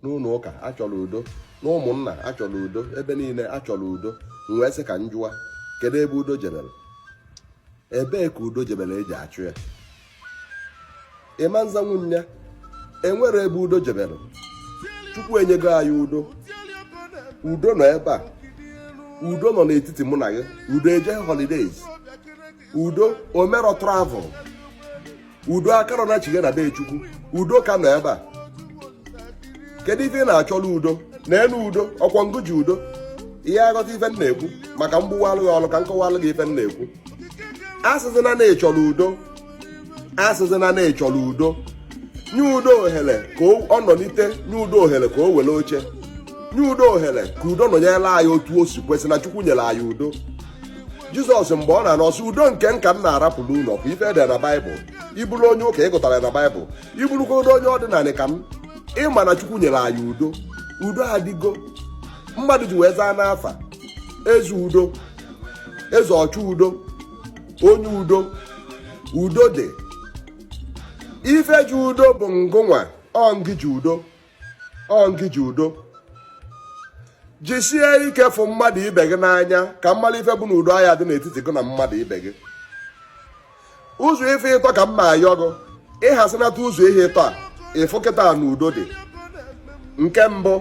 n'ụlọ ụka achọrọ udo na ụmụnna achọrọ udo ebe niile achọrọ udo m wee sị ka m jụwa kedu ebe udo jebere ebee ka udo jebere eji achọ ya ịma nza nwunye enwere ebe udo jebere chukwu enyego anyị udo udo nọ ebe a udo nọ n'etiti mụ na gị udo ejeghị holidays udo emerọ travel udo akarọ nachighaa na be chukwu udo ka nọ ebe a kedu ife ị na-achọlụ udo na enu udo ọkwa ngụ ji udo ị ya-aghọta ife m na-ekwu ma ka m gbuwaalụ gị ọlụ ka m kọwaalụ gị ife m na-ekwu asịzịna na ịchọrọ udo asịzịna na ịchọrọ udo nye udo ohere ka ọ nọlite nye udo ohere ka o were oche nye udo ohere ka udo nọnyere anyị otu o si kwesị na chukwu nyere anyị udo jizọs mgbe ọ na-ana ọ sị udo nke m ka m na-arapụrụ unu ọ bụ ife ede na baịbụl ịbụrụ onye ụka ịgụtara na baịbụl ịbụrụkwa onye ọdịnala ka m ịma na chukwu nyere anyị udo udo adịgo mmadụ ji wee zaa n'afa eze udo eze ọchọ udo onye udo udo dị ife ji udo bụ ngụnwa ọ ngị ji udo ọ ngị ji udo jisie ike fụ mmadụ ibe gị n'anya ka m malụ ife bụ na udo aya adị n'etiti gị na mmadụ ibe gị ụzọ ife ịtọ ka m na-ayọ gị ịhasinata ụzọ ihe ịtọ a ịfụ kịta na udo dị nke mbụ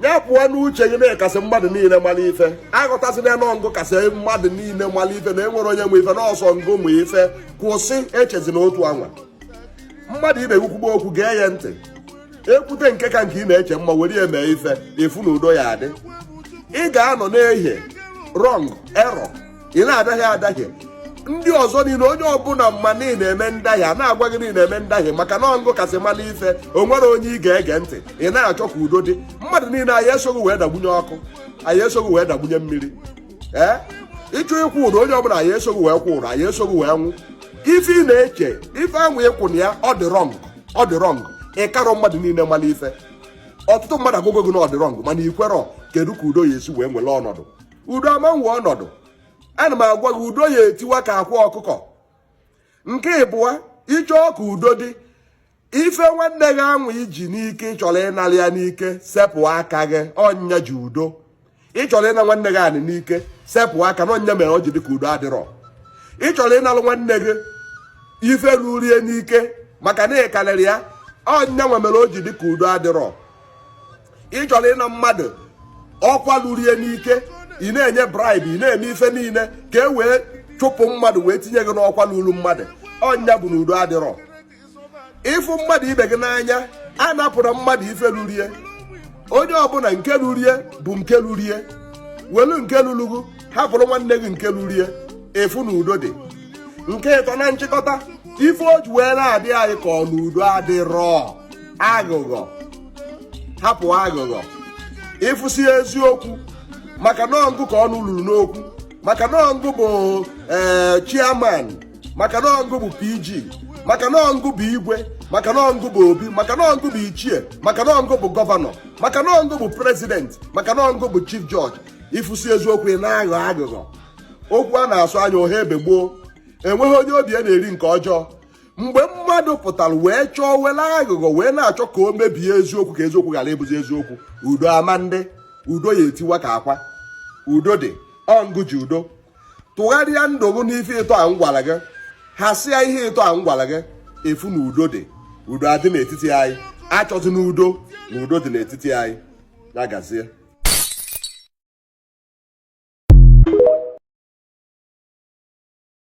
ya pụọ n'uche gị na ị kasị mmadụ niile mara ife aghọtazịna na ọ ngụ kasị mmadụ niile mara ife na enwerọ onye ma ife na ọ sọ ngụ ma ife kwụsị echezina otu anwa mmadụ ibe gị kwugbo okwu gee ya ntị ekwute nke ka nke ị na-eche mma were ya mee ife ị fụ na udo ya adị ị ga-anọ na-ehie rọng erọ ị na-adahie adahie ndị ọzọ niile onye ọbụla ma na ị na-eme ndahie a na-agwa gị na ị na-eme ndahie maka na ọ ngụ kasị mala ife o nwerọ onye ị ga-ege ntị ị na-achọ ka udo dị mmadụ niile aya eso gị wee dagbunye ọkụ aya eso gị wee dagbunye mmiri ee ịchọọ ịkwụ ụdọ onye ọbụla aya eso gị wee kwụ ụdọ aya eso gị wee nwụ ife ị na-eche ife anwụ ịkwụ na ya ọ dị rọng ọ dị rọng ịkarọ mmadụ niile mara ife ọtụtụ mmadụ agwago gị na ọ dị rọng mana ikwerọ kedu ka udo ya esi wee nwere ọnọdụ udo ama enwe ọnọdụ ana m agwa gị udo ya etiwa ka akwa ọkụkọ nke ịbụa ịchọọ ka udo dị ife nwanne gị anwụ iji n'ike ịchọrọ ịnara ya n'ike sepụ aka gị ọ nya ji udo ịchọrọ ịna nwanne gị anị n'ike sepụ aka na ọ nya mere o ji dịka udo adịrọ ịchọrọ ịnalụ nwanne gị ife ruru ya n'ike maka na ịkarịrị ya ọ nyanwa mere o ji dịka udo adịrọ ịchọrọ ịna mmadụ ọkwa ruru ya n'ike ị na-enye bribe ị na-eme ife niile ka e wee chụpụ mmadụ wee tinye gị n'ọkwa ruru mmadụ ọ nya bụ na udo adịrọ ịfụ mmadụ ibe gị n'anya anapụna mmadụ ife ruru ye onye ọbụla nke ruru ye bụ nke ruru ye welu nke lulu gụ hapụrụ nwanne gị nke ruru ye ị fụ na udo dị nke ịtọ na nchịkọta ife o ji wee na-adị anyị ka ọ na udo adịrọ aghụghọ hapụ aghụghọ ịfụsi eziokwu maka na ọ ngụ ka ọnụ luru n'okwu maka na ọ ngụ bụ ee eh, chairman maka na ọ ngụ bụ pg maka na ọ ngụ bụ igwe maka na ọ ngụ bụ obi maka na ọ ngụ bụ ichie maka na ọ ngụ bụ gọvanọ maka na ọ ngụ bụ president maka na ọ ngụ bụ chief judge ifusi eziokwu ị na-aghọ aghụghọ okwu a na-asọ anya ọ ha ebe gboo enweghị onye obi ya na-eri nke ọjọọ mgbe mmadụ pụtara wee chọọ were aghụghọ wee na-achọ ka o mebie eziokwu ka eziokwu ghara ịbụzi eziokwu udo ama adị udo ya etiwa ka akwa udo dị ọ ngụ ji udo tụgharịa ndụ gị n'ife ịtọ a m gwara gị hasịa ihe ịtọ a m gwara gị ị fụ na udo dị udo adị n'etiti anyị a chọzi na udo na udo dị n'etiti anyị ya gazie